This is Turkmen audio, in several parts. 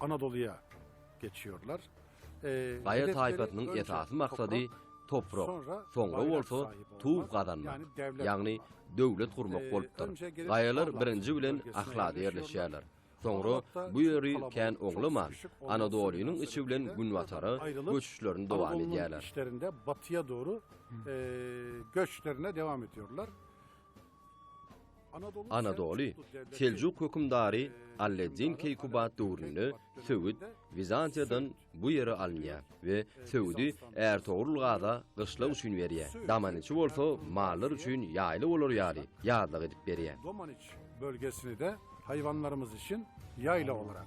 Anadoluya geçiyorlar. Ee, Gaýa taýpasynyň esasy maksady toprak, soňra bolsa tuw gazanmak, ýagny döwlet gurmak ee, bolupdyr. Gaýalar birinji bilen Ahlada ýerleşýärler. Soňra bu ýeri kän oňlaman, Anadolynyň içi bilen günbatara göçüşlerini dowam edýärler. Anadolunyň işlerinde batyýa dogry ee, göçlerine dowam edýärler. Anadoly, Seljuk hökümdary Alleddin Keýkubat döwründe söwüt Wizantiýadan bu ýere alynýar we söwüdi Ärtogrul gaza gyşlak üçin berýär, Domaniçi bolsa mallar üçin ýaýla bolar ýaly ýazlak edip berýär. Domaniç bölgesini-de haýwanlarymyz üçin ýaýla olarak.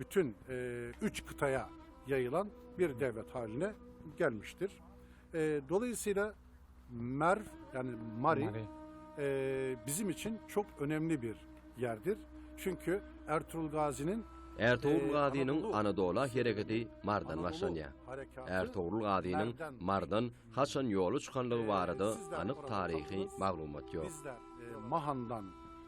Bütün e, üç kıtaya yayılan bir devlet haline gelmiştir. E, dolayısıyla Merv yani Mari, Mari. E, bizim için çok önemli bir yerdir. Çünkü Ertuğrul Gazi'nin Ertugrul Gazynyň Anadola hereketi Mardan başlanýar. Ertugrul Gazynyň Mardan haçan ýoly çykanlygy barada anyk taryhy maglumat ýok. Mahandan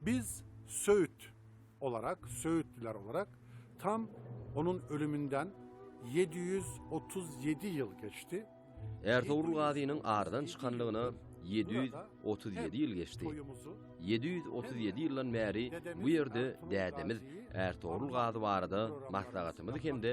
Biz söýüt olarak, söýütliler olarak tam onuň ölüminden ýedi ýüz otuz ýedi ýyl geçdi. Ärsogul gazynyň aradan çykanlygyna ýedi ýüz otuz ýedi ýyl geçdi. Ýedi ýüz otuz ýedi ýyldan bäri bu ýerde dädemiz Ärsogul gazy barada maslahatymyzy hem-de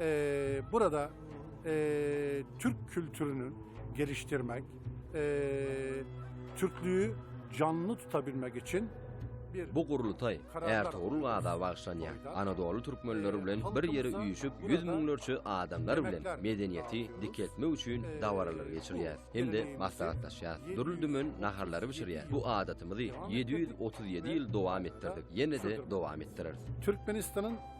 Ee, burada ee, Türk kültürünü geliştirmek, ee, Türklüğü canlı tutabilmek için Bu gurultaý Ertogrul gaza bagşlanýar. Anadolu türkmenleri bilen bir ýere üýşüp, ýüz müňlerçe adamlar bilen medeniýeti dikeltmek üçin dabaralar geçirýär. Hem-de maslahatlaşýar. Dürli dümen naharlary bişirýär. Bu adatymyzy 737 ýyl dowam etdirdik. Ýene-de dowam etdireris. Türkmenistanyň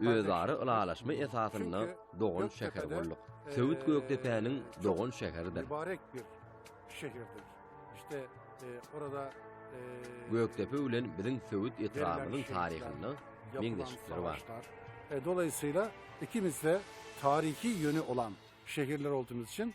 Özara ylalaşma esasynda dogan şäher bolduk. Söwüt Gökdepäniň dogan şäheridir. Mübarek bir şäherdir. İşte e, orada e, Gökdepe bilen biziň Söwüt etrabymyzyň taryhynda meňzeşlikler bar. E, dolayısıyla ikimiz de tarihi yönü olan şehirler olduğumuz için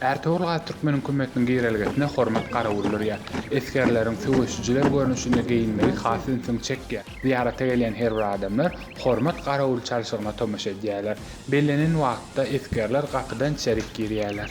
Ärtogul Gazy Türkmen hökümetiniň girelgesine hormat garawuldyrýar. Esgerleriň söweşijiler görnüşinde geýinmegi has ünsüňi çekýär. Zyýarata gelýän her bir adamlar hormat garawuly çalşygyna tomaşa edýärler. Bellenen wagtda esgerler gapydan içerik girýärler.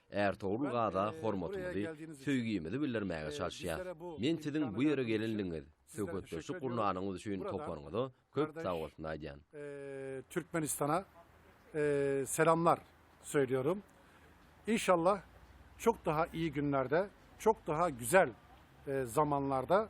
Ärtogul Gaza hormatymyzy, söýgimizi bildirmäge çalyşýas. Men siziň bu ýere gelenligiňiz, söhbetdeşlik gurnanyňyz üçin toparyňyza köp sagbolsun aýdýan. Türkmenistana selamlar söýlýärin. Inşallah çok daha iyi günlerde, çok daha güzel zamanlarda